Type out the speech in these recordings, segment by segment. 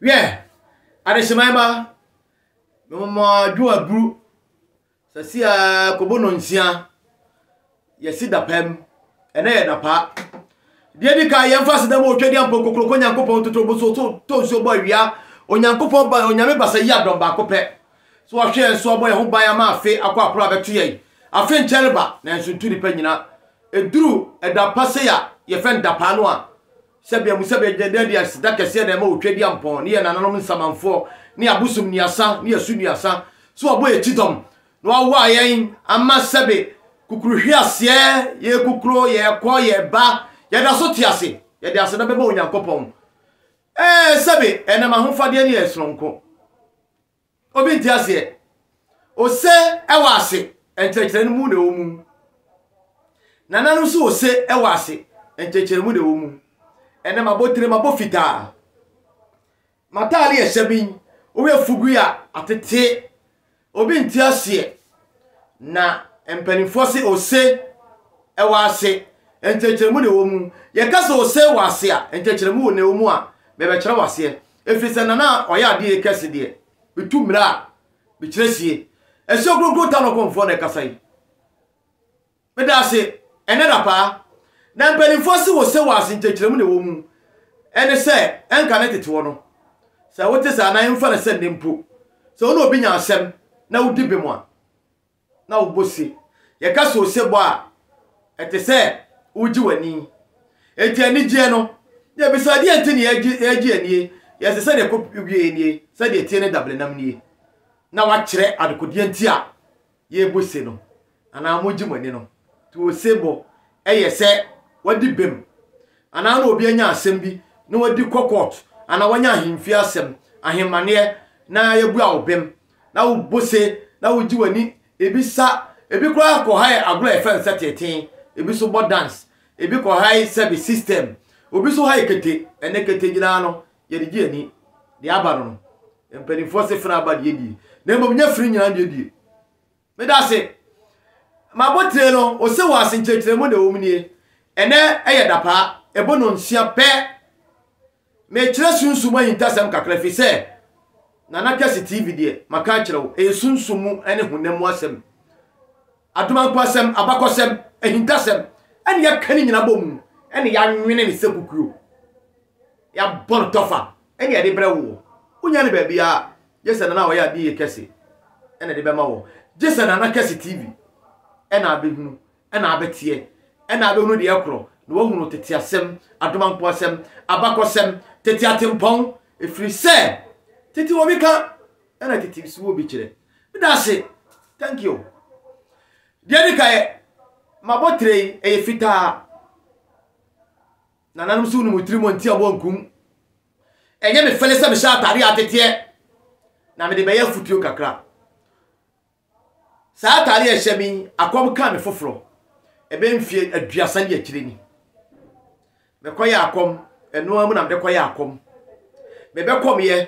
Hwɛ, adehyeman ba, mema dwo aburu sɛ sia kobo nnɔnsia, yɛsi dapaa mu, ɛnɛ yɛ dapaa. Deɛ di kan yɛmfa aseda mu otwa deɛ mpɔ kokoroko Onyankopɔn ntoto bo so so to nsuo bɔ awia Onyankopɔn ba Onyame basa yi adɔm baako pɛ so ɔhwɛ yɛn so abɔ yɛn ho ban ama afe akɔ aporo abɛto yɛn afe nkyɛre ba nanso ntu nipa nyina ɛduru ɛda pa sei a yɛfɛn dapaa no a Sɛbea mu sɛbea gyina dɛn de aseda kɛseɛ na ɛma wɔ Tweduampɔn ne yɛn nananom nsamanfoɔ ne abosom nnuasa ne asu nnuasa sɛ wɔbɔ yɛn kyitɔm na wɔawoa yɛn ama sɛbe kukuruhweaseɛ yɛkukuro yɛkɔ yɛba yɛda so te ase yɛde aseda bɛma Onyankopɔn ɛɛ sɛbe ɛnam ahofadeɛ ne yɛn sononko Obi nte aseɛ. Ose wɔ ase nkyerɛkyerɛ no mu na ɛwɔ mu. Nana no nso ose wɔ ase nkyerɛkyerɛ no mu na ɛwɔ mu. Ɛnɛ m'abotire m'abɔ fitaa. M'ataare yɛ hyɛ bin. Woyɛ fugui a atete. Obi nte aseɛ. Na mpanimfoɔ se ose wɔ ase nkyerɛkyerɛ no mu na ɛwɔ mu. Yɛka sɛ ose wɔ ase a nkyerɛkyerɛ mu na ɛwɔ mu a, mebɛkyerɛ wo aseɛ. Ɛfiri sɛ na na ɔyɛ adeɛ kɛse deɛ metu mmira a mekyerɛ sie. Asuo Kronkron Tanokɔmfoɔ na ɛkasa yi. Meda ase ɛnnɛ da paa. Na mpanimfoɔ se wo se waase nkyɛkyerɛmu na ɛwɔ mu. Ɛne sɛ ɛnka ne teteɔ no. Sɛ wote saa na ɛmfa no sɛ nnɛ mpo sɛ wo ne obi nya asɛm na wodi bem a, na wo bo se. Yɛka sɛ osebɔ a, ɛte sɛ woregye w'ani. Enti anigyeɛ no, yɛbisa adeɛ nti na yɛregye anie? Yɛse sɛdeɛ ɛkɔ wieɛ nie, sɛdeɛ ɛteɛ ne dabelenam nie. Na wakyerɛ adekodeɛ nti a yɛrebɔ se no, anaa moregye mo ani no. Nti osebɔ yɛ sɛ wadi bem, anaa na obi anya asɛm bi na wadi kɔ kɔɔto, anaa wanya ahemfie asɛm, ahemmaneɛ, na yɛabua wo bem, na wobo se, na wogye w'ani, ebi sa, ebi koraa kɔhae agorɔ a yɛfrɛ no sɛ teetee, ebi nso bɔ dance, ebi kɔhae sɛbe system, obi nso hae kete. Ɛnnɛ kete nyinaa no, yɛde gye ani. Deɛ aba no no, mpanimfoɔ se fene aba deɛ die, na mmom nyɛ fene nyinaa deɛ die. Medase. M'abotire no, ose wɔ ase nkyerɛkyerɛmu na ɛwɔ mu nie. Ɛnɛ ɛyɛ dapaa, ɛbɔ nnɔnsia pɛ. Mekyerɛ sunsum mu ahintasɛm kakra ɛfiri sɛ Nana Twase TV deɛ, maka akyerɛ wo, ɛyɛ sunsum mu ne honam mu asɛm. Adomankwaasɛm, abakɔsɛm, ahintasɛm, ɛne yɛaka ne nyinaa bɔ mu, ɛne yɛanwene ne sɛ kukuo. Yɛabɔ no tɔfa na yɛde brɛ woɔ. Wonya no baabiara, gye sɛ Nana a ɔyɛ adeɛ yie kɛse na ɛde bɛma woɔ. Gye sɛ Nana Kɛse TV na abɛhunu na abɛteɛ na abɛhunu deɛ ɛkorɔ na wahunu tete asɛm, adomanko asɛm, abakɔsɛm, tete atempɔn, ɛfiri sɛ tete wɔ bi ka na tete nso wɔ bi kyerɛ. Meda ase. Thank you. Deɛ ɛdi kan, m'abɔtire yi, ɛyɛ fitaa. Nananom so wonim tirim nti a wɔnkum. Ɛnyɛ me fɛle sɛ mehyɛ atade a ateteɛ na mede bɛyɛ afutuo kakra. Saa atade a ɛhyɛ me yi, akɔm kaa me foforɔ. Ɛbɛyɛ mfeɛ aduasa ni akyire ni. Mekɔyɛ akɔm, ɛno ara mu na mede kɔyɛ akɔm. Mebɛkɔmeɛ.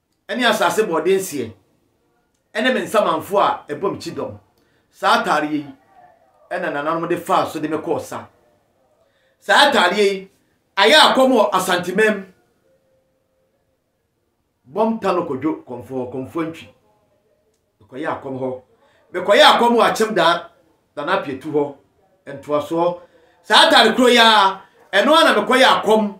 ne asase bɔɔde nseɛ, ne me nsamanfoɔ a ɛbɔ me kyidɔm. Saa ataadeɛ yi na nananom de faa so de me kɔɔ sa. Saa ataadeɛ yi ayɛ akɔm wɔ Asanteman mu. Bɔm Tano Kodwo Kɔmfoɔ, Kɔmfoɔ Ntwi. Mekɔyɛ akɔm hɔ. Mekɔyɛ akɔm wɔ Akyem Daa, Nana Apietu hɔ. Ntoasoɔ. Saa ataade korɔ yi ara, ɛno ara na mekɔyɛ akɔm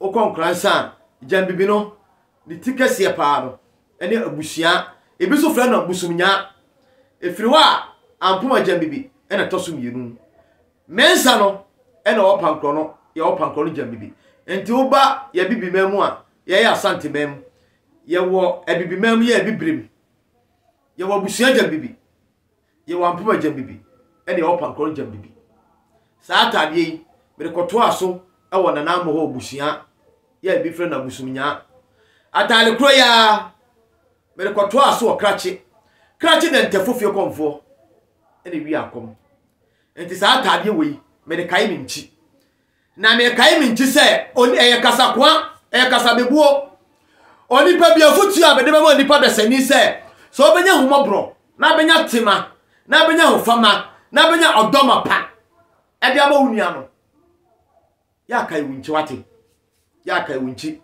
Wokɔ nkoransa a, gyambibi no, ne ti kɛseɛ pa ara no, ɛne abusua. Ebi nso frɛ no bosomnyaa. Ɛfiri hɔ a, Ampoma gyambibi na ɛtɔ so mmienu. Mensah no na ɔwɔ Pankorɔ no, yɛwɔ Pankorɔ no gyambibi. Nti woba yɛn Abibiman mu a, yɛyɛ Asanteman mu. Yɛwɔ Abibiman mu, yɛyɛ Abibirem. Yɛwɔ abusua gyambibi. Yɛ wɔn mpoma gyam bibi ne wɔn pankɔrɔn gyam bibi. Saa ataadeɛ yi, mede kɔtoaa so wɔ Nana Amohor abusua yi a bi frɛ no Abusumnyaa. Ataade korɔ yi ara, mede kɔtoaa so wɔ Krachi. Krachi na Ntɛfo fiekɔmfoɔ na ɛwia akɔm. Nti saa ataadeɛ wei, mede kae me nkyi. Na nea ɛkae me nti sɛ oni ɛyɛ kasakoa, ɛyɛ kasabebuo. Onipa bi afotuo a mede bɛma onipa dasani sɛ, sɛ ɔbɛnya ahummɔborɔ, na abɛnya tema, na abɛnya ahofama, na abɛnya ɔdɔ mapa ɛde ama wo nua no, yɛakae wo nkyi, wate? Yɛakae wo nkyi.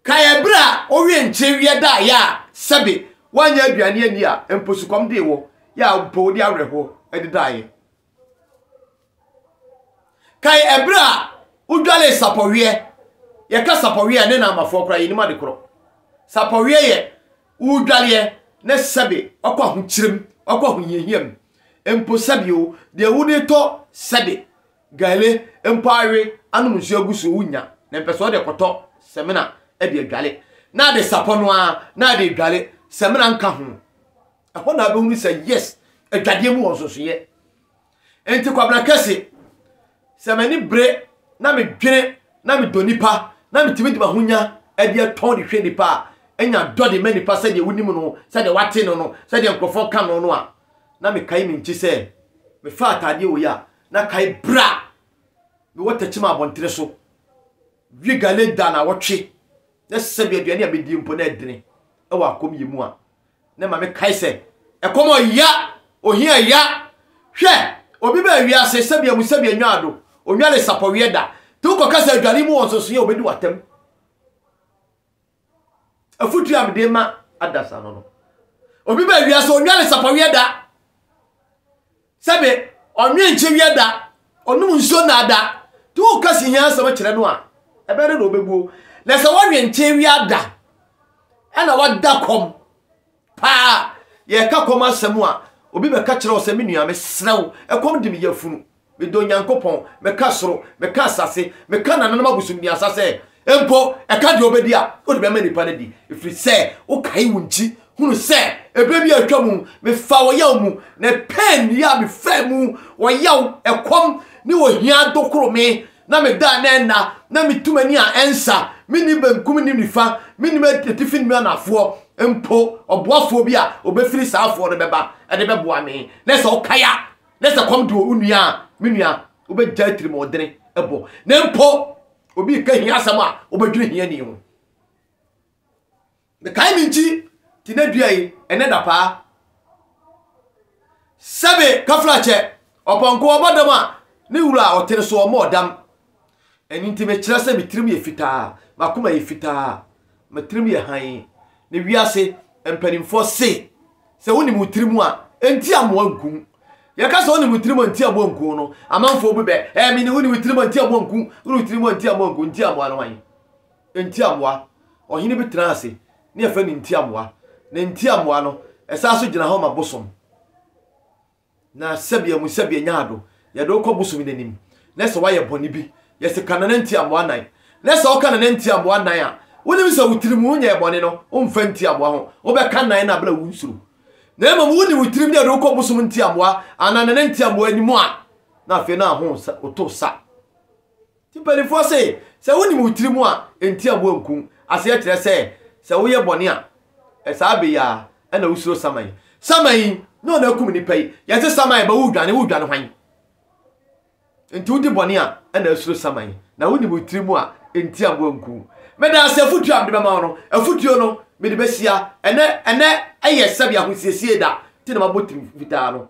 Kae ɛberɛ a wowie nkye wiɛ da a yɛ a sɛbe woanyɛ aduane ani a mpo sukɔm dee wɔ, yɛ a mpo wode awerɛhoɔ ɛde daeɛ. Kae ɛberɛ a wodwaree sapɔweɛ, yɛka sapɔweɛ a ne na amafoɔ koraa yɛnim ade korɔ. Sapɔweɛ yɛ wodwareɛ na sɛbe wakɔ ahokyerɛ mu, wakɔ ahohiahia mu. Mpo sɛbe o, deɛ wode tɔ sɛbe, gale mpo awe anom nsuo agu so wonnya. Na mpɛ sɛ wode kɔtɔ samina de adware. Na ade sapɔ no ara na ade dware, samina nka ho. ɛhɔ na abɛhunu sɛ yes adwadeɛ mu wɔ nsonsoyɛ nti kwabena kɛse sɛ m'ani bere na medwene na medɔ nipa na metumi de mahonya de atɔn de hwɛ nipa a ɛnya dɔ de ma nipa sɛdeɛ wonim no sɛdeɛ wate no no sɛdeɛ nkurɔfoɔ ka no no a na mekae me nkyi sɛ mefa ataadeɛ wɔ yi a na kae bra mewɔ takyima abɔntene so wie gale da na wɔtwe na sɛ bi aduane a medie mpo na ɛdene ɛwɔ akɔm yɛ mu a Ne maame kae sɛ, Ɛkɔm a ɔya, ohia ya. Hwɛ! Obi baa wiase sɛbea mu sɛbea nwaado, onware sapɔweɛ da. Te wokɔka sɛ adware mu wɔ nsonsoeɛ a obedi w'atam. Afotu a mede ma adasa no no. Obi baa wiase, onware sapɔweɛ da. Sɛbe, ɔnwe nkyɛ wia da, ɔnom nsuo nnaa da. Nti woka se hia asɛm kyerɛ no a, ɛbɛyɛ dɛ na ɔbɛbuo. Na sɛ wɔwe nkyɛ wia da, ɛna wada kɔm paa. Yɛreka kɔm asɛm a, obi bɛka kyerɛ wo sɛ, me nua, mesrɛ wo, ɛkɔm de me yafunu. Medɔ Nyankopɔn, meka soro, meka asase, meka nananom abosomduasa sɛ, Mpo, ɛka deɛ wobɛdi a, wode bɛma nnipa no adi, ɛfiri sɛ wokae wo nkyi. Hunu sɛ ɛberɛ bi a atwa mu, mefaa ɔyaw mu, na ɛpɛɛ nnua a mefaa mu, ɔyaw, ɛkɔm, ne ohia dokoro me, na medaa na ɛnna, na metu m'ani a ɛnsa, menni benkum nnim nifa, mennim atifi nnim anafoɔ. Mpo, ɔboafoɔ bi a ɔbɛfiri saa afoɔ no bɛba de bɛboa me, na sɛ ɔkae a, na sɛ ɛkɔm de wo nua a, me nua, wobɛgyae atirimuɔdene bɔ, na mpo, obi reka hia asɛm a wobɛdwene hiani ho mekae me nkyi te na dua yi ɛnɛ da paa sɛbe kafrakyɛ ɔpɔnkɔ ɔbɔ dam a ne wura a ɔtene so ɔmmɔ ɔdam ɛno nti mekyerɛ sɛ me tirim yɛ fitaa makoma yɛ fitaa Me tirim yɛ hann. Na wiase mpanimfoɔ se sɛ wonim wo tirim a, ɛnti amoa nku wo. Yɛka sɛ wonim wo tirim a, ɛnti aboa nku wo no, amanfoɔ bu bɛ. Ɛɛ, mene wonim wo tirim a, ɛnti aboa nku wo. Wonim wo tirim a, ɛnti aboa nku wo. Nti amoa no hwan? Ɛnti amoa. Ɔhene bi tenaa ase, ne yɛfrɛ no Nti amoa. Na Nti amoa no, ɛsan nso gyina hɔ ma bosom. Na sɛbea mu sɛbea nyaa do, yɛdze wo kɔ bosomi n'enyim, na sɛ ɔayɛ bɔn bi, yɛse ka nana ntsi amoa nan, na sɛ ɔka nana ntsi amoa nan a, wonyim sɛ wo tsirmu wo nyɛɛ bɔn no, ommfa ntsi amoa ho, wobɛka nan no aber a wonnsuro. Na mbom wonyi wo tsirmu dɛ edze wo kɔ bosom ntsi amoa anaa nana ntsi amoa enyim a, na afei no aho wo sa, oto sa. Ti mpanimfoɔ se, Sɛ wonim wo tiri mu a, nti a woanku. Aseɛ kyerɛ sɛ, sɛ woyɛ bɔne a, saa bɛ yi ara na wosuro saman. Saman yi, na ɔno akum nnipa yi. Yɛse saman ba, woredwane, woredwane hwan? Nti wodi bɔne a, na asuro saman. Na wonim wo tiri mu a, nti a woanku. Meda ase afotuo a mede bɛma wo no. Afotuo no, mede bɛhyia. Ɛnnɛ, ɛnnɛ yɛ sɛbe ahosiesie da, nti na mabɔ tirim fitaa no.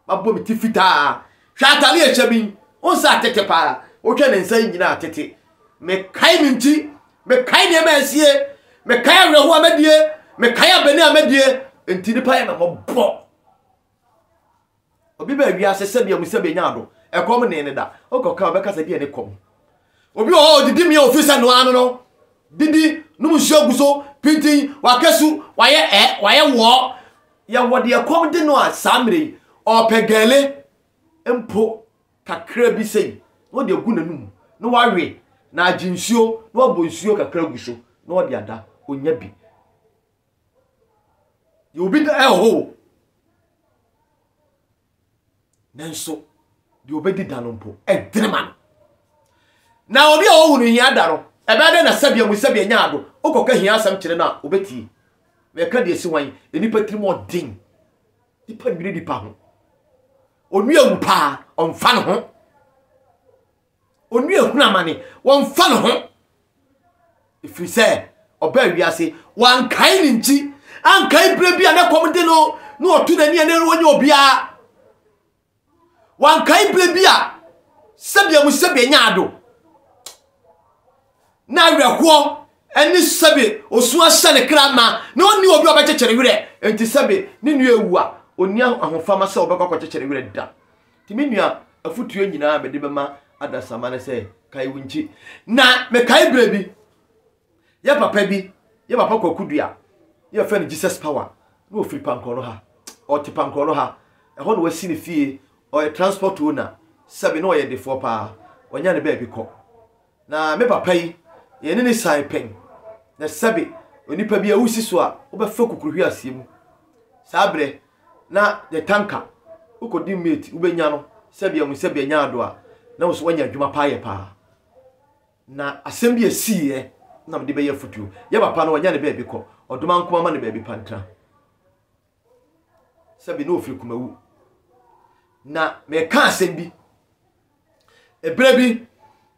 Mabɔ me ti fitaa. Hwɛ atade a ɛhyɛ me yi. Wohu sɛ atete pa ara. Wohwɛ ne nsa yi nyinaa atete. Mekae me nti. Mekae nneɛma a asie. Mekae awerɛhoɔ a madie. Mekae abani a madie. Enti nnipa yɛ me mmɔbɔ. Obi baa wiase sɛdeɛ mu sɛ bɛnya ado. Ɛkɔm nee ne da. Wokɔka a, wobɛka sɛ deɛ ne kɔm. Obi wɔ hɔ a ɔdidi mee a ɔfiri sɛ noaa no no didi nom nsuo gu so pintinn, waka su, wayɛ ɛ, wayɛ wɔɔ. Yɛwɔ deɛ ɛkɔm de no a saa mmerɛ yi ɔɔpɛ gɛɛle mpo kakra bi sei na ɔde agu n'anum na wawe na agye nsuo na wabɔ nsuo kakra agu so na ɔde ada, ɔnya bi. Yɛwɔ bi da ɛwɔ hɔ o. nanso deɛ ɔbɛdi da no mpo ɛdene ma no na obi a ɔhu no hia da no ɛbɛyɛ dɛ na sɛbea mu sɛbea nya ado wokɔka hia asɛm kyerɛ no a ɔbɛtie mɛka deɛ si hwan nnipa tirim ɔden nipa nwere nipa ho onua wu paa ɔmfa ne ho Onua ehunu amane, wɔmfa ne ho. Ɛfiri sɛ, ɔbaa wiase, wankae ne nkyi, ankae berɛ bi a na kɔm de no, na ɔto n'ani a na ɔnyɛ obiara. Wankae berɛ bi a sɛbea mu sɛbea nya ado, na awerɛhoɔ ɛne sɛbe osu ahyɛ ne kra ma na ɔnni obi a ɔbɛkyekyere werɛ. Enti sɛbe ne nua ewu a, ɔnni ahofama sɛ ɔbɛkɔ akɔkyekyere werɛ da. Nti me nua, afotuo nyinaa a mede bɛma adasamma ne sɛ, kae wo nkyi. Na mekae berɛ bi, yɛ papa bi, yɛ papa Kwaku Dua, ne yɛfrɛ no Jesus Power, na ɔfiri Pankorɔno ha, ɔte Pankorɔno ha, ɛhɔ na wasi ne fie, ɔyɛ transport owner, sɛbe na ɔyɛ defoɔ paa, ɔnya ne baabi kɔ. Na me papa yi, yɛne no sian pɛn, na sɛbe onipa bi awu si so a, wobɛfa kukuruhwi aseɛ mu. Saa berɛ, na the tanka, wokɔdi mate, wobɛnya no, sɛbe ahu sɛbe anya ado a, na wo so woanya adwuma paa yɛ paa. Na asɛm bi a siiɛ na mede bɛyɛ afotuo, yɛ papa no, ɔnya ne baabi kɔ, ɔdoma nko ma ne baabi pa ntena. sɛbi na ofiri kumawu na meka asɛm bi ɛberɛ bi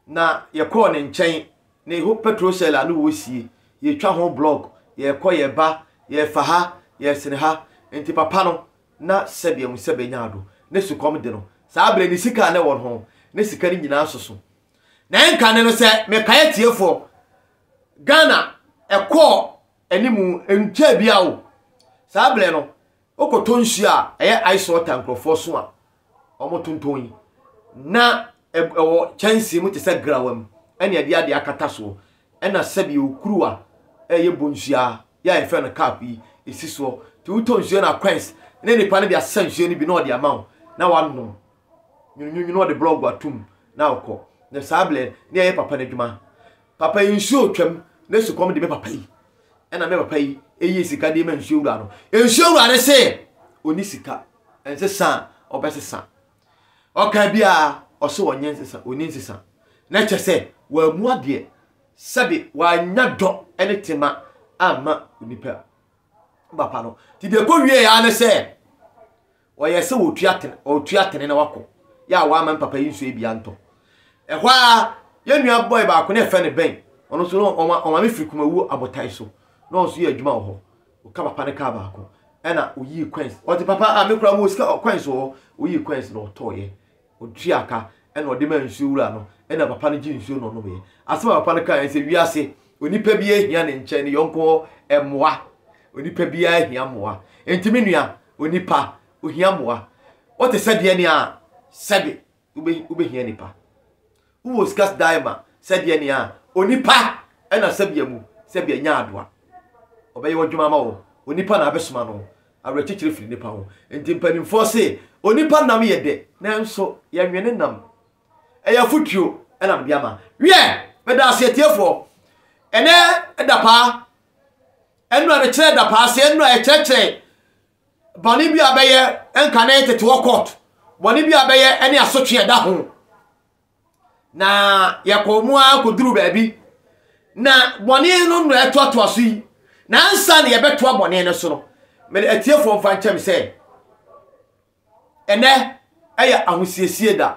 na yɛkɔɔ ne nkyɛn ne ho petrol shell a na wɔresie yɛtwa ho blɔk yɛkɔ yɛba yɛfa ha yɛsene ha nti papa no na sɛbi ahu sɛ bɛnya ado ne sukɔm de no saa berɛ ne sika a na ɛwɔ ho ne sika no nyinaa soso na ɛnka ne no sɛ mekaeɛ tiefoɔ Ghana ɛkɔɔ anim ntwaa biara o. Saa berɛ no, wokɔtɔ nsuo a ɛyɛ ice water nkurɔfoɔ so a wɔtontɔn yi, na ɛwɔ kyɛnsee mu te sɛ grawa mu, ɛne ɛde adeɛ akata soɔ, ɛna sɛbio kuruwa a ɛyɛ bonsua yɛ a yɛfrɛ no cup yi, ɛsi soɔ. Nti wotɔ nsuo na quench ne nipa no de asesa nsuo no bi na ɔde ama wo na wanom. Nwununwunu na ɔde blɔg atom na ɔkɔ. Na saa berɛ na yɛyɛ papa no adwuma. Papa yi nsuo twam na sukɔm de me papa yi. Ɛna me papa yi yii sika de ma nsuo wura no. Nsuo wura no se ɔni sika. Nsesa a ɔbɛsesa. Ɔka biara ɔse ɔnyɛ nsesa, ɔni nsesa. Na kyɛ sɛ wammu adeɛ. Sɛbe wannya dɔ ne tema amma onipa. Papa no. Nti deɛ ɛkɔ wieɛ ara ne sɛ. Ɔyɛ sɛ ɔretu atene, ɔretu atene na wakɔ. Yɛ a wamma mpapa yi nsuo yi bi antɔ. Ɛhɔ ara, yɛn nua bɔe baako na ɛfɛ no bɛn. Ɔno nso no, ɔma, ɔma me firi Kumawuo abotan so. Na ɔno nso yɛ adwuma wɔ hɔ. Ɔka papa no kaa baako. Ɛna ɔyii coins. Ɔte papa a mekura mu sika coins wɔ hɔ. Ɔyii coins na ɔtɔɔeɛ. Ɔtua ka. Ɛna ɔde maa nsuo wura no. Ɛna papa no gye nsuo na ɔnomeeɛ. Asɛm a papa no kaeɛ sɛ, wiase, onipa biara hia ne nkyɛn ne yɔnko hɔ mmoa. Onipa biara hia mmoa. Enti me nua, Onipa, ohia mmoa. Wote sɛdeɛ nea sɛbe wobɛhia nipa. Wowɔ sika sdae ma sɛdeɛ nea onipa ɛna sɛbea mu sɛbea nya adoa. Ɔbɛyɛ w'adwuma ama wo. Onipa na abɛsoma no. Awerɛkyekyerɛ firi nipa ho. Nti mpanimfoɔ se onipa nam yɛ dɛ nanso yɛnwe ne nam. Ɛyɛ afotuo ɛna mede ama. Wiɛ, meda ase atiefoɔ. Ɛnɛ ɛda paa Ɛno a no kyerɛ dapaase, ɛno a ɛkyerɛkyerɛ bɔne bi a bɛyɛ nka na tete wɔ court, bɔne bi a bɛyɛ ne asotwe a ɛda ho. Na yɛkɔɔ mu ara kɔduru baabi, na bɔne no na ɛtoatoa so yi, na ansa na yɛbɛtoa bɔne no so no, mede atiefoɔ mfa nkyɛm sɛ, ɛnɛ ɛyɛ ahosiesie da.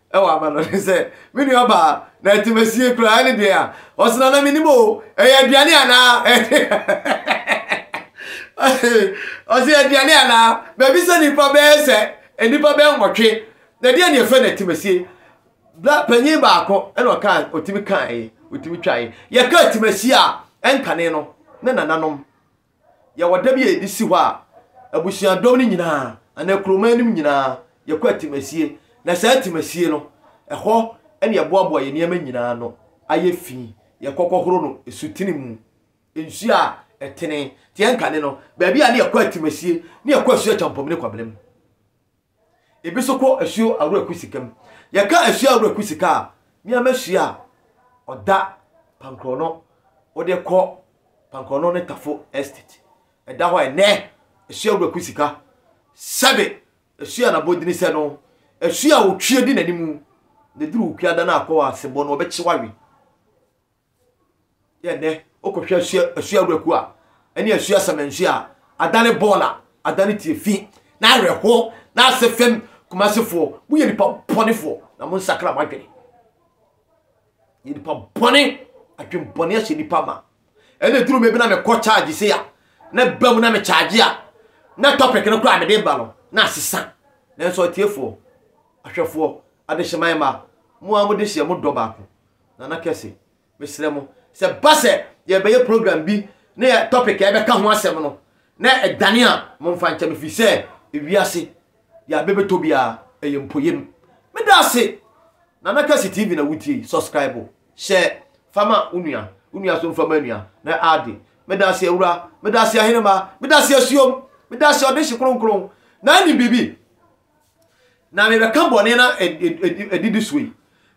ɛwɔ aba no ne sɛ me nua baa na atimasie kura ɛne deɛ a ɔsena na menim o ɛyɛ aduane anaa ɔsɛ aduane anaa baabi sɛ nnipa bɛyɛ sɛ nnipa bɛyɛ nwɔtwe na ɛdeɛ ne ɛfɛ na atimasie bla panyin baako ɛna ɔka ɔtumi kae ɔtumi twae yɛka atimasie a ɛnkane no ne nananom Yɛwɔ da bi a yɛde si hɔ a, abusuadɔm no nyinaa, anaa kurom anim nyinaa, yɛkɔ atimasie. Na saa atimasie no, ɛhɔ na yɛboaboa yɛn nneɛma nyinaa ano ayɛ fi. Yɛkɔ kɔhoro no asutene mu, nsuo a ɛtene. Te yɛn kane no, baabi a na yɛkɔ atimasie, na yɛkɔ asuo Kyampɔmine Kwabena mu. Ebi nso kɔ asuo awura ku sika mu. Yɛka asuo awura ku sika a, nneɛma asuo a ɔda Pankrɔno, wode kɔ Pankrɔno ne Tafo Estate. Ɛda hɔ a ɛnɛ asuo awura ku sika. Sɛbe asuo a n'abɔdini sɛ no, asuo a otwie di n'anim, na eduru okuada no akɔ asebɔ no, ɔbɛkye wawe. Yɛ dɛ wokɔhwɛ asua asua awuraku a ɛne asua samansu a adane bɔɔl a adane tie fi na awerɛho na ase fam kumasefoɔ moyɛ nipa bɔnefoɔ na mo nsakra mo adwene yɛ nipa bɔne adwenbɔne ahyɛ nipa ma ɛna duru me bi na mekɔ charge se a na ba mu na me charge a na topic no koraa mede ba no na asesa nanso atiefoɔ ahwɛfoɔ adehyeman ma mo a mode hyɛ mo dɔ baako Nana kɛse, mesrɛ mo, sɛ ɛba sɛ yɛrebɛyɛ program bi na yɛ topic a yɛbɛka ho asɛm no na ɛdane a, momfa nkyɛ me firi sɛ ewiase deɛ abɛ bɛtɔ biara ɛyɛ mpoyam. Meda ase! Nana Kɛse TV na wotie yi, subscribe, hyɛ, fa ma wo nua, wo nua nso mfa ma nua na ade. Meda ase awura, meda ase ahenemma, meda ase asuom, meda ase ɔdehye kronkron na anim biribi. Na merebɛka bɔne no adidi so yi,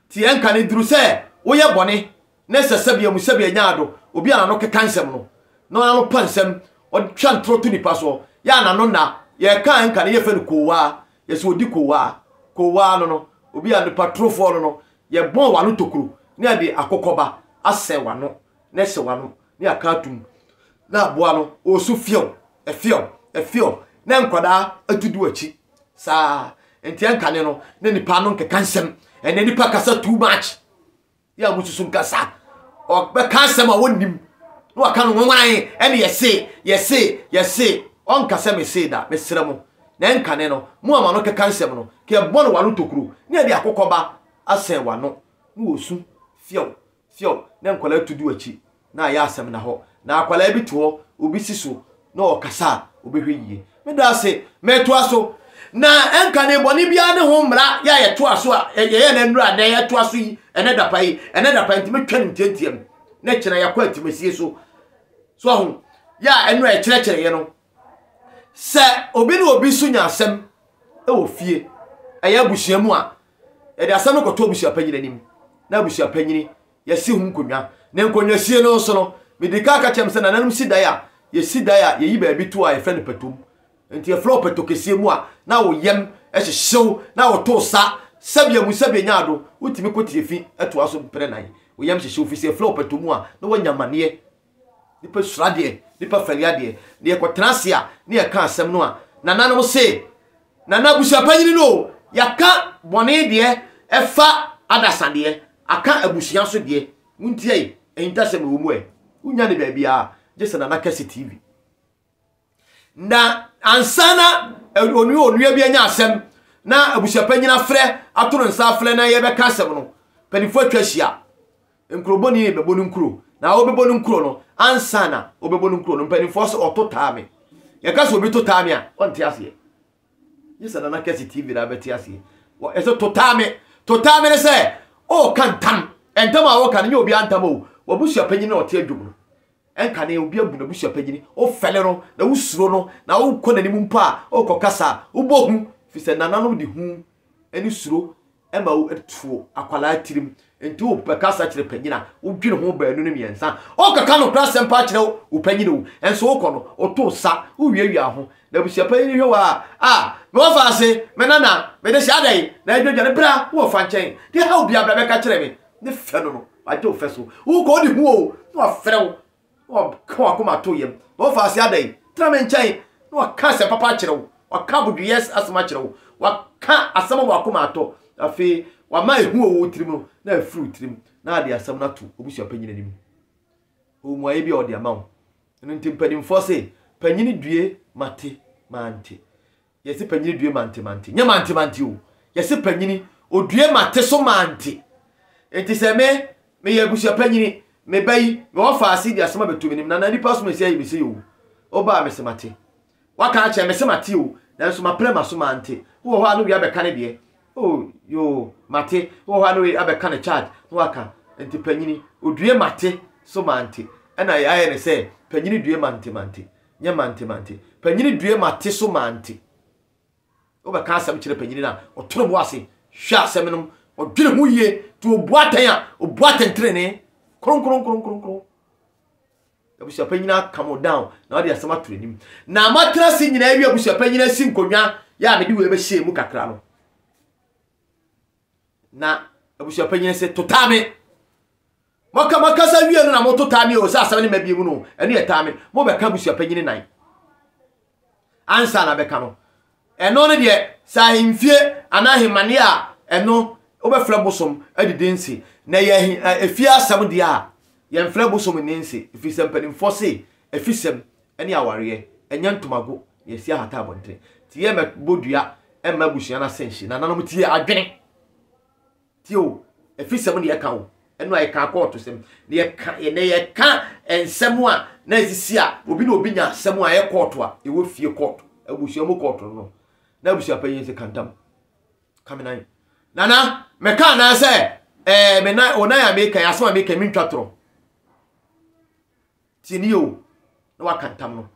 te ɛnka ne duru sɛ woyɛ bɔne ne sɛ sɛbea mu sɛbea nya ado, obi a n'ano keka nsɛm no, na ɔnano pa nsɛm, ɔtwa ntoro to nipa soɔ, yɛ a n'ano nna, yɛka ɛnka no yɛfɛ no koowaa, yɛsɛ odi koowaa, koowaa no no, obi a nipa torofoɔ no no, yɛbɔn w'ano tokuro, na yɛde akokɔba asɛn w'ano, na ɛhyɛ w'ano ne aka atom na aboa no ɔresu fiew, fiew, fiew, na nkwadaa atu di w'akyi saa nti ɛnkane no na nipa no nkeka nsɛm ɛnɛ nipa kasa too much yɛ a mususu nkasa ɔbɛka asɛm a wɔnnim na waka no nwanwan ɛne yɛse yɛse yɛse ɔnka sɛ mese da mesrɛ mo na ɛnkane no mo ama no keka nsɛm no kɛ ɛbɔ no wano tokuro ne ɛde akokɔba asɛn wano na wɔsu fiew Fio na nkwadaa tu du akyi na ayɛ asɛm na hɔ na akwadaa bi te hɔ obi si so na ɔkasa a obɛhwɛ yie me da ase metoa so na ɛnka ne bɔne biara ne ho mmara yɛ a yɛtoa so a yɛyɛ na nnura na yɛtoa so yi ɛnɛ dapa yi ɛnɛ dapa nti metwa ne ntiantiam na kyena yɛkɔ atimasie so so ho yɛ a ɛno a ɛkyerɛkyerɛeɛ no Sɛ obi ne obi nso nya asɛm wɔ fie, ɛyɛ abusua mu a, yɛde asɛm no kɔto abusua panyin anim, na abusua panyin yɛsi ho nkonnwa. Ne nkonnwasie no nso no, medi kan ka kyerɛ sɛ nananom si dan a, yɛsi dan a yɛyi baabi to a yɛfrɛ no pɛtom. Nti yɛfrɛ wo pɛtɔ kɛseɛ mu a, na wo yam hyehyew, na woto sa, sɛbea mu sɛbea nya ado, wotumi ko tie fi toa so mprɛnan, wo yam hyehyew fi sɛ yɛfrɛ wo pɛtɔ mu a, na woanya amaneɛ. Nnipa suro adeɛ, nnipa fɛre adeɛ. Na yɛkɔtena ase a, na yɛka asɛm no a, nananom se, Nana abusuapanyini no o, yɛaka bɔne deɛ ɛfa adasa deɛ, aka abusua nso deɛ, wontiae, ahintasɛm wɔ mu ɛ. Wonnya no baabiara, gye sɛ Nana Kɛse TV. Na ansa na onua onua bi anya asɛm na abusuapanyin afrɛ ato no nsa afrɛ na yɛbɛka asɛm no, mpanyinfo atwa ahyia. Nkurobɔni ne bɛbɔ no nkuro. Na wɔbɛbɔ no nkuro no, ansa na wɔbɛbɔ no nkuro no, mpanyinfoɔ sɛ ɔto taa me. Yɛka sɛ obi to taa me a, ɔnte aseɛ. Nye sɛ Nana Kɛse TV na abɛte aseɛ. Ɛsɛ to taa me. To taa me ne sɛ, ɔɔka ntam. Ntam a wɔka no, nyɛ obiara ntam o. W'abusuapanyin na ɔte adwom no. Ɛnka nea obi abu n'abusua panyin, wofɛre no, na wusuro no, na wokɔ n'anim mpo a, o kɔkasa a, wobɔ hu, efisɛ nananom de hu ne suro ma tuo akwadaa tirim. Enti wobɛkasa kyerɛ panyin a, wodwene ho baanu ne mmiɛnsa. Wokɔka nokorɛ asɛm paa kyerɛ wo panyin o, nso wokɔ no, woto nsa, wowiawia ho, na abusua panyin hwɛ wo a, a, me wɔfa ase, me nana, mede hyɛ adɛn, na adwadwane, bra, wo wɔfa nkyɛn, deɛ ɛhaw biara bra bɛka kyerɛ me, ne fɛ no no, wagye wo fɛ so. Wokɔ ɔde hu o, na wafrɛ wo, na waka wakoma ato yam. Na ɔfa ase adɛn? Tena me nkyɛn, na waka asɛm papa akyerɛ wo, waka abodwoyɛ asɛm akyerɛ wo, waka asɛm ama wakoma atɔ. Afei wama ehu wɔ wo tirim no, na afiri wo tirim, na ade asɛm no ato obusua panyin anim. Ɔwɔ mmuaeɛ bi a ɔde ama wo. Ɛno nti mpanimfoɔ se, panyini due, mate, mante. Yɛse panyini due mante mante. Nyɛ mante mante o. Yɛse panyini odue mate so mante. Enti sɛ me, meyɛ abusua panyini, me ba yi, mewɔ faase di asɛm a bɛto menim. Nana nipa so mesi ayi me sei o. Woba a mese mate. Waka akyerɛ me se mate o. Nanso mapre maso mante. Wowɔ hɔ a na wei abɛka ne deɛ. Oh yoo mate. Wowɔ hɔ a na wei abɛka ne charge na waka. Enti panyini odue mate so mante. Ɛna yɛayɛ ne sɛ panyini due mante mante. nyɛ mante mante. Panyini due mate so mante. Wobɛka asɛm kyerɛ panyini no a, ɔtoro bo ase hwɛ asɛm no, ɔdwene ho yie, nti obu atɛn a, obu atɛntrenee. Kronkronkronkronkron. Abusuapanyini aka mo down na ɔde asɛm ato anim. Na matena ase nyinaa awie abusuapanyini asi nkonnwa yɛ a mede wei bɛhyɛ mu kakra no. na abusua panyin se to taa me mɔka mɔkasa wie no na moto taa me o sɛ asɛm ne ma bie mu no ɛno yɛ taa me mobɛka abusua panyin nan ansa na bɛka no ɛno no deɛ sɛ ahemfie anaa ahemmaneɛ a ɛno wobɛfrɛ bosom adidi nse na yɛ efie asɛm deɛ a yɛmfrɛ bosom nni nse ɛfiri sɛ mpanimfoɔ se ɛfisɛm ne awareɛ, ɛnyɛ ntomago na yɛsi ahata abɔntene. Nti yɛ mɛbɔ dua mma abusua no ase nhye. Nananom tie adwene. Tie o, afisɛm na yɛka o. Ɛno a yɛka kɔɔto sɛm. Na yɛka, na yɛka nsɛm a na ɛsisi a obi na obi nya asɛm a ɛyɛ kɔɔto a ɛwɔ fie kɔɔto, abusua mu kɔɔto no. Na abusua panyin sɛ kantam. Ka me nan. Nana, mɛka anaa sɛ ɛɛ me nan, wo nan a meka yi, asɛm a meka yi mentwa torɔ. Tie no yie o, na waka ntam no,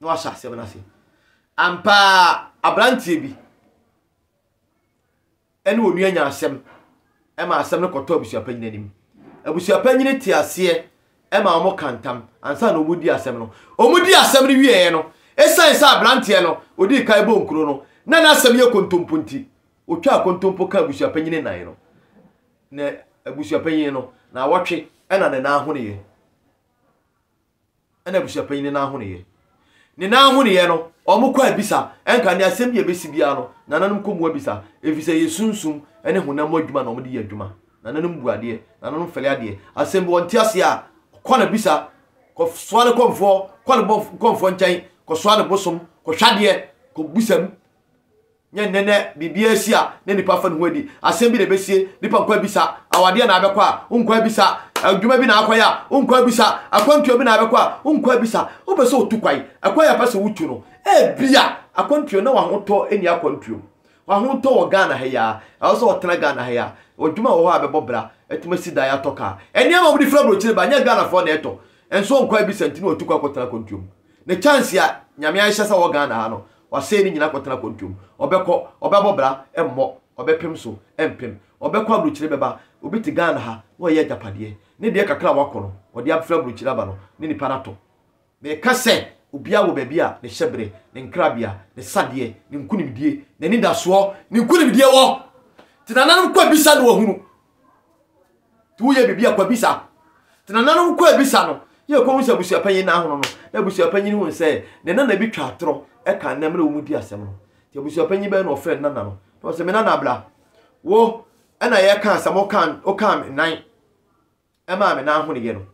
na wahyɛ asɛm no ase. Ampa ara, aberanteɛ bi ne onua nya asɛm ma asɛm no kɔtɔ abusuapanyin anim. Abusuapanyin te aseɛ ma wɔn ka ntam ansa na wɔn di asɛm no. Wɔn di asɛm no wieɛ no, esan sɛ aberanteɛ no odii kan bɔ nkuro no na n'asɛm yɛ kontompo nti, otwaa kontompo ka abusuapanyin nan no. Ne abusuapanyin no naawɔtwe na ne nan ho nneyɛe. Ɛna abusuapanyin no nan ho nneyɛe. Ne nan ho nneyɛe no, wɔkɔ abisa. Ɛnka ne asɛm bi a ɛbɛsi biara no, nananom kɔ mu abisa, efisɛ ɛyɛ sunsum ne honam mu adwuma na wɔde yɛ adwuma. Nananom bu adeɛ, nananom fɛre adeɛ. Asɛm bi wɔnte aseɛ a, kɔ na bisa, kɔsoa ne kɔmfoɔ, kɔ ne bɔf, kɔmfoɔ nkyɛn, kɔsoa ne bosom, kɔhwɛ adeɛ, kɔbisa mu. Nyɛ nnɛ na biribiara si a na nipa fa ne ho adi. Asɛm bi na ebesie, nipa nkɔ abisa. Awadeɛ na abɛkɔ a, wonkɔ abisa. Adwuma bi na akɔyɛ a, wonkɔ abisa. Akwantuo bi na abɛkɔ a, wonkɔ abisa. Wopɛ sɛ wotu kwan, ɛkwan a ɛpɛ sɛ wotu no, ebia akwantuo na w'ahotɔ nni akwantuo mu. W'ahotɔ wɔ Ghana ha yi ara, ɛwɔ sɛ wɔtena Ghana ha yi ara. Adwuma wɔ hɔ a bɛbɔ bra, atumi asi dan, atɔ kaa. Nneɛma a wɔde firi aburokyire ba, nyɛ Ghanafoɔ na ɛtɔ. Nso wonkɔ abisa nti na watu kɔ akɔtena akwantuo mu. Ne chance a Nyame ahyɛ sɛ wɔ Ghana ha no, Ɔsɛe no nyinaa kɔtena kɔntom. Ɔbɛkɔ, ɔbɛbɔ bra, ɛmmɔ, ɔbɛpem so, ɛmpem. Ɔbɛkɔ abrokyire bɛba, obi te Ghana ha na ɔyɛ agyapadeɛ, ne deɛ kakra a wakɔ no, ɔde afiri abrokyire aba no, ne nipa no atɔ. Meka sɛ, obiara wɔ baabi a ne hyɛberɛ, ne nkrabea, ne sadeɛ, ne nkunimdie, n'anidasoɔ, ne nkunimdie wɔ. Te nananom kɔ bisa na wɔahunu. Nti woyɛ biribi a kɔ bisa. Nti nananom kɔɔ bisa no yɛ kɔhu sɛ abusuapanyin no ahono no. Na abusuapanyin hui sɛ ne nana bi twa atorɔ ka nnɛ mmerɛ wɔn di asɛm no. Nti abusuapanyin bɛɛ na ɔfrɛ ne nana no na ɔsɛ me nana bra wo ɛna yɛ ka asɛm wo ka wo ka nan ɛmaa me nan honoyɛ no.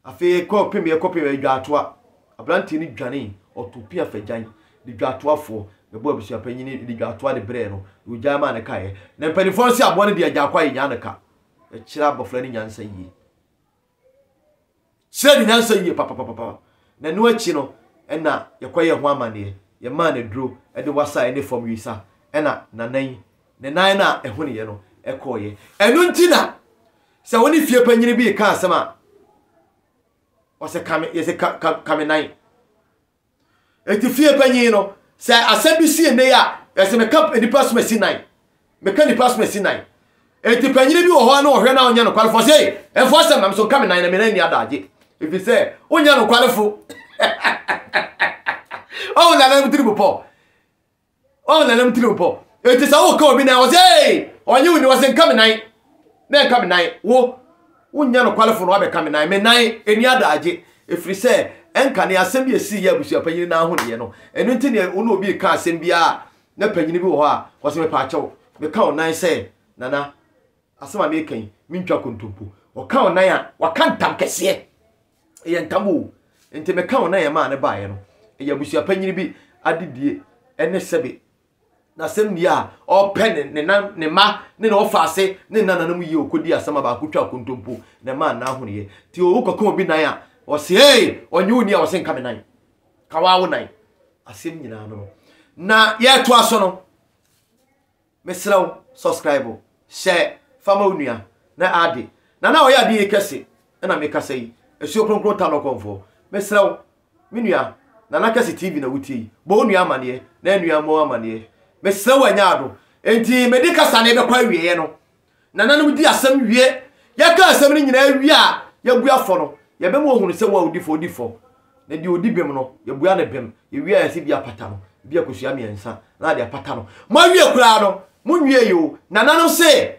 Afei yɛkɔpem yɛkɔpem adwaatoa, aberanteɛ no dwanee, ɔtoo pea fagyan de dwaatoafoɔ bɛbɔɔ abusuapanyin no de dwaatoa de brɛɛ no, na ɔgyae maa no kaeɛ. Na mpanimfoɔ no se aboa no di Agyankwa a yɛnyaa no ka. Ɛkyerɛ abɔfra no nyansa yie. Ɛkyerɛ ne nyansa yie papapapa. Na ɛno akyi no, ɛna yɛkɔyɛɛ ho amanneɛ. Yɛmaa no aduro de wasa ne fam wisa, ɛna n'anan Ne nan no a ɛhoneeɛ no kɔeɛ. Ɛno nti na sɛ wo ne fie panyini bi reka asɛm a, ɔsɛ ka me, yɛsɛ ka, ka, ka me nan. Eti fie panyin no, sɛ asɛm bi si nnɛ yi a, yɛsɛ meka nipa soma si nan. Meka nipa soma si nan. Eti panyin bi wɔ hɔ a na ɔhwɛ na ɔnyɛ nokwarefo. Ɔsɛ, ei, ɛmfa asɛm na me so nka me nan na me nan ni adagye. Efi sɛ, wonyɛ nokwarefo. Ɔwɔ nanam tiri mu pɔ. ɔn na nam tiriw pɔ enti sɛ woka obi nan wɔsɛ ee ɔnye wo ni wɔsɛ nka me nan na ɛnka me nan wo wonyɛ nokwarefo no wabɛka me nan me nan ɛni adagye ɛfiri sɛ ɛnka ne asɛm bi ɛsii yɛ abusua panyini no ho deɛ no ɛno nti ne wo ne obi ka asɛm biara na panyini bi wɔ hɔ a wɔsɛ mepaakyɛw meka wo nan sɛ nana asɛm a meka yi mentwa kontompo wɔka wo nan a wɔka ntam kɛseɛ ɛyɛ ntam o nti meka wo na yɛ maa ne baeɛ no ɛyɛ abusua panyini bi adedie ɛne sɛbe na asɛm nie a ɔpɛ ne ne nan ne ma ne na ɔfa ase ne nna nanam yie ɔkɔdi asɛm a baako twa kontompo na ɛma nna ahoneɛ nti ɔwo kɔka obi nan a ɔse ee ɔnye wo ni a ɔse nka me nan ka waa wo nan asɛm nyinaa no no na yɛtoa so no Mesrɛ wo subscribe, share, fa ma wo nua na ade na na ɔyɛ ade yi kɛse na me kasa yi asuo kronkron ta lɔkɔnfoɔ mesrɛ wo me nua Nana Kɛse TV na wotie yi bɔ wo nua amaneɛ na nua mmɔ wo amaneɛ mesrɛ wo anya ado enti mede kasa no ɛbɛkɔ awieɛ no Nananom di asɛm wie. Yɛka asɛm no nyinaa wie a, yɛagu afɔ no. Yɛbɛma wɔahunu sɛ wɔn a wɔdi fɔ di fɔ, na deɛ ɔdi bem no, yɛbua no bem. Yɛwie a, yɛsɛ bi apata no, ebi a kosua mmiɛnsa, na ade apata no. Moawie koraa no, monwiee o. Nananom se,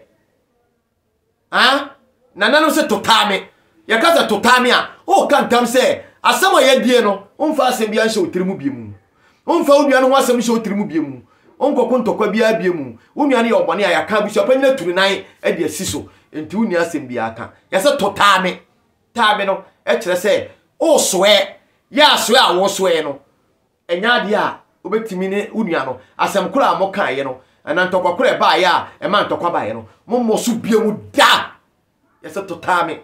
Aah! Nananom se, Totaa me. Yɛka sɛ, Totaa me a, woreka ntam sɛ, asɛm a yɛadie no, womfa asɛm biara nhyɛ wo tiri mu bio. Womfa wo nua no ho asɛm nhyɛ wo tirim bio mu. Wonkɔko ntɔkwa biara bio mu. Wo nua no yɛ ɔbɔne a, yɛaka. Abusuapanyin atu ne nan de asi so. Enti wonni asɛm biara ka. Yɛse to taa me. Taa me no kyerɛ sɛ wosoɛ. Yɛ asoɛ a wosoɛ no nyɛ adeɛ a wobɛtumi ne wo nua no, asɛm koro a mokaeɛ no anaa ntɔkwa koro a ɛbaeɛ a ɛmaa ntɔkwa baeɛ no, mommɔ so bio da. Yɛse to taa me.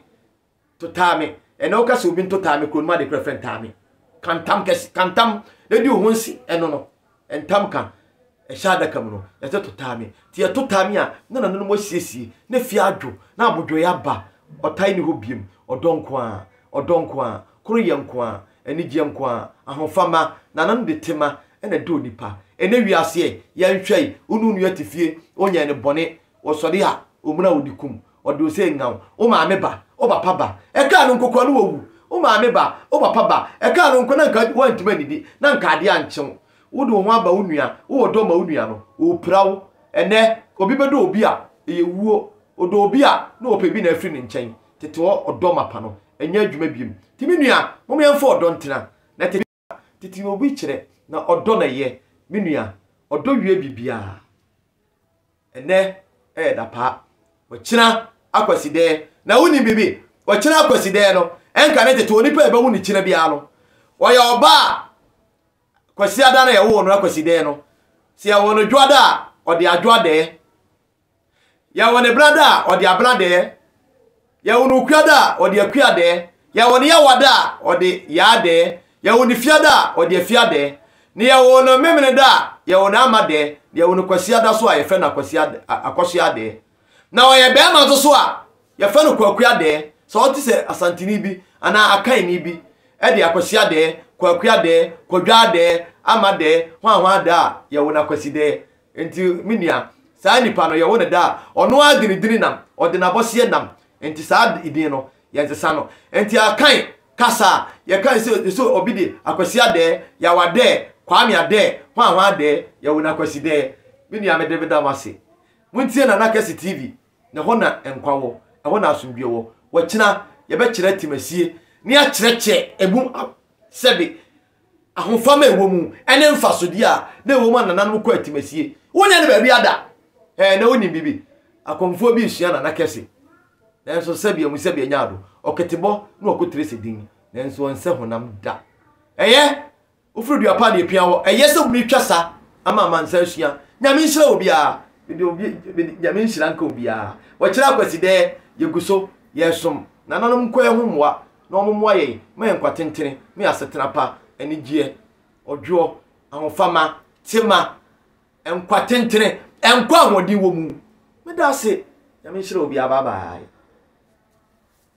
To taa me. Ɛnɛ woka sɛ obi nto taa me kuro no mu ade korɛ frɛ ntaa me. Ka ntam kɛse, ka ntam na di wo ho nse. Ɛno no, ntam ka ɛhyɛ adaka mu no, yɛsɛ to taa me. Nti yɛto taa me a, na nananom asiesie, na fie adwo, na abodwoeɛ aba. Ɔtan nni hɔ biom. Ɔdɔ nko ara, ɔdɔ nko ara, koroyɛ nko ara, anigyeɛ nko ara, ahofama, nananom de tema na ɛdɔ onipa. Ɛnɛ wiase ɛ, yɛnhwɛ yi, wo ne wo nua te fie, wonyɛɛ no bɔne, ɔsɔre a, omena wo de kum wo. Ɔde ose nyaw, wo maame ba, wo papa ba. Ɛkaa no nko koraa na wawu. Wo maame ba, wo papa ba. Ɛkaa no nko na anka woantumi annidi, na anka adeɛ ankye wo. Wode wo ho aba wo nua, wowɔ dɔ ma wo nua no, ɔrepira wo. Ɛnnɛ, obi bɛdɔ obi a, ɛyɛ wuo. Ɔdɔ obi a, na ɔpɛ bi na afiri ne nkyɛn. Tete hɔ, ɔdɔ mapa no nyɛ adwuma biom. Enti me nua, mom yɛmfa ɔdɔ ntena. Na tete. tete na obi kyerɛ na ɔdɔ na ɛyɛ me nua ɔdɔ wie biribiara ɛnɛ ɛyɛ dapaa ɔkyena akwasidɛɛ na wonim biribi ɔkyena akwasidɛɛ no ɛnka ne tete onipa ɛbɛwo ne kyena biara no ɔyɛ ɔba a kwasiada no yɛwoo no akwasidɛɛ no sɛ yɛwɔ no dwoada a ɔde adwoadɛɛ Yɛwɔ ne bra da a, ɔde abra dɛɛ. Yɛwɔ ne okua da a, ɔde akua dɛɛ. Yɛwɔ ne yawa da a, ɔde yaa dɛɛ. Yɛwɔ ne fia da a, ɔde afia dɛɛ. Ne yɛwɔ no memene da a, yɛwɔ no ama dɛɛ. Ne yɛwɔ no kwasia da so a, yɛfrɛ no akwasia akɔsoa dɛɛ. Na ɔyɛ bɛɛma nso so a, yɛfrɛ no kwakua dɛɛ. Sɛ ɔte sɛ Asanteni bi anaa Akanni bi de akwasia dɛɛ, kwakua dɛɛ, kwadwaa dɛɛ, ama dɛɛ, hwanhwaa da a, yɛwɔ no akwasi dɛɛ. Enti me nua, saa nipa no, yɛwo no da a, ɔno ara de ne dini nam, ɔde n'abɔseɛ nam, enti saa din no, yɛnsesa no. Enti Akan kasa a, yɛka sɛ, sɛ obi de Akwasi Adɛɛ, Yaw Adɛɛ, Kwame Adɛɛ, Hwanhwan Adɛɛ, yɛwo no Akwasidɛɛ. Me nua, mede meda mo ase. Montie Nana Kɛse TV, na ɛhɔ na nkwa wɔ, ɛhɔ na asomdwoeɛ wɔ. Wakyina, yɛbɛkyerɛ Timasie, na yɛakyerɛkyerɛ ɛmu sɛbe ahofama a ɛwɔ mu ne mfasodeɛ a na ɛwɔ mu a nananom kɔ atimasie. Wonyɛ no baabi ada. Ɛɛ na wonim biribi. Akɔmfoɔ bi resua nana kɛse. Nanso sɛbi amu sɛbi anya ado. Ɔketebɔ na ɔkotire sɛ din. Nanso ɔnsɛ honam da. Ɛyɛ wofiri dua pa na ɛpia wɔ. Ɛyɛ sɛ wumi twa sa ama amansa asua. Nyame nhyira obiara. Mede obi, mede nyame nhyira nka obiara. Wɔkyerɛ akwasidɛɛ, yɛgu so, yɛresom. Nananom nkɔɛ ho mmoa. na wɔmmoa yɛn ma yɛn nkwa tentene ne asetena pa, anigyeɛ, ɔdwoɔ, ahofama, tema, nkwa tentene, nkwa ahoɔden wɔ mu. Meda ase. Nyame nhyira obiara. Bye bye.